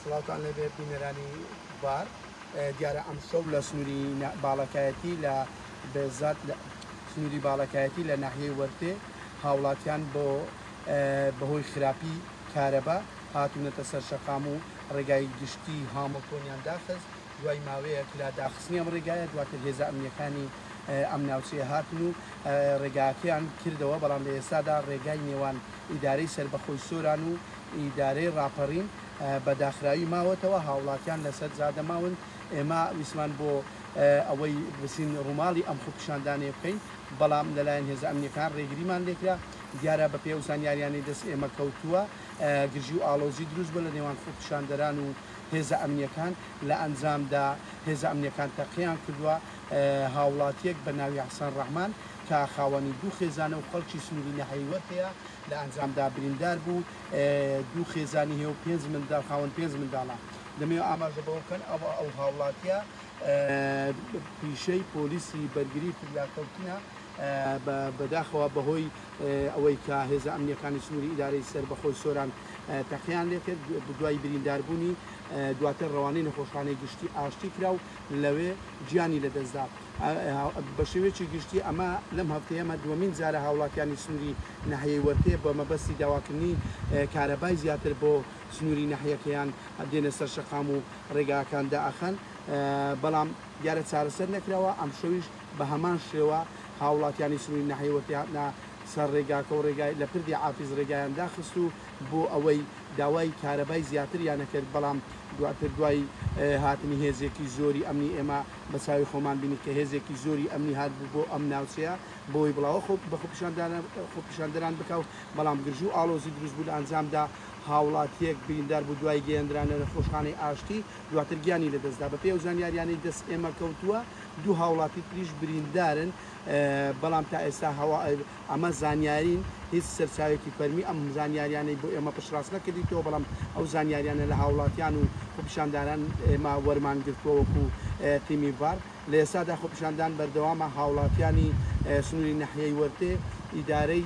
سڵاوتان لێبێ بینەرانی بار دیارە ئەم شەو لە سنووری باڵەکایەتی لە بێزات لە سنووری باڵەکایەتی لە ناحیەی وەرتێ هاوڵاتیان بۆ بەهۆی خراپی کارەبا هاتوونەتە سەر شەقام و ڕێگای گشتی هامڵتۆنیان داخست دوای ماوەیەک لە داخستنی ئەم ڕێگایە دواتر هێزە ئەمنییەکانی ئەم ناوچەیە هاتن و ڕێگاکەیان کردەوە، بەڵام لە ئێستادا ڕێگای نێوان ئیدارەی سەربەخۆی سۆران و ئیدارەی ڕاپەڕین بە داخراوی ماوەتەوە، هاوڵاتیان لەسەر جادە ماون، ئێمە ویستمان بۆ ئەوەی بچین ڕووماڵی ئەم خۆپیشاندانەیە بکەین، بەڵام لەلایەن هێزە ئەمنییەکان ڕێگریمان لێکرا، دیارە بەپێی ئەو زانیاریانەی دەست ئێمە کەوتووە گرژی و ئاڵۆزی دروست بووە لە نێوان خۆپیشاندەران و هێزە ئەمنیەکان لە ئەنجامدا هێزە ئەمنیەکان تەقەیان کردوە هاوڵاتیەک بە ناوی حسن رحمان کە خاوەنی دوو خێزانە و خەڵکی سنوری نەهەیوەر هەیە لە ئەنجامدا بریندار بوو دوو خێزانی هەیە و پێنج منداڵ خاوەن پێنج منداڵە دەمەوێ ئاماژە بەوە بکەن ئەو ئەو هاوڵاتیە پیشەی پۆلیسی بەرگری فریاکەوتنە. بەداخەوە بەهۆی ئەوەی کە هێزە ئەمنییەکانی سنووری ئیدارەی سەربەخۆی سۆران تەقەیان لێکرد دوای برینداربوونی دواتر ڕەوانەی نەخۆشخانەی گشتی ئاشتی کرا و لەوێ گیانی لەدەستدا. بە شێوەیەکی گشتی ئەمە لەم هەفتەیەمە دووەمین جارە هاوڵاتیانی سنووری ناحیەی وەرتێ بە مەبەستی داواکردنی کارەبای زیاتر بۆ سنووری ناحیەکەیان دێنە سەر شەقام و ڕێگاکان دائەخەن بەڵام دیارە چارەسەر نەکراوە ئەمشەویش بە هەمان شێوە هاوڵاتیانی سنووری ناحیەی وەکیهاتنە سەر رێگاکە و رێگای لە پردی عافیز رێگایان داخست و بۆ ئەوەی داوای کارەبای زیاتریان ئەکرد بەڵام دواتر دوای هاتنی هێزێکی زۆری ئەمنی ئێمە بە چاوی خۆمان بینی کە هێزێکی زۆری ئەمنی هاتبوو بۆ ئەم ناوچەیە بۆی بڵاوە خۆ بە خۆپیشاندانە خۆپیشاندەران بکا و بەڵام گرژی و ئاڵۆزی دروست بوو لە ئەنجامدا هاوڵاتیەک بریندار بوو دوای گەیەندرانە نەخۆشخانەی ئاشتی دواتر گیانی لە دەستدا بە پێی ئەو زانیاریانەی دەست ئێمە کەوتووە دوو هاوڵاتی تریش بریندارن، بەڵام تا ئێستا ئەمە زانیارین، هیچ سەرچاوێکی فەرمی ئەم زانیاریانەی بۆ ئێمە پشتڕاست نەکردیتەوە، بەڵام ئەو زانیاریانە لە هاوڵاتیان و خۆپیشاندانان ئێمە وەرمان گرتووە وەکو تیمی ڤار، لە ئێستادا خۆپیشاندان بەردەوامە، هاوڵاتیانی سنوری ناحیەی وەرتێ ئیدارەی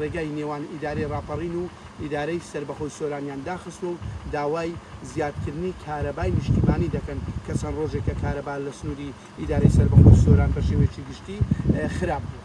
ڕێگای نێوان ئیدارەی ڕاپەڕین و ئیدارەی سەربەخۆی سۆرانیان داخستووە و داوای زیادکردنی کارەبای نیشتیمانی دەکەن کە چەند ڕۆژێکە کارەبا لە سنووری ئیدارەی سەربەخۆی سۆران بە شێوەیەکی گشتی خراپ بووە.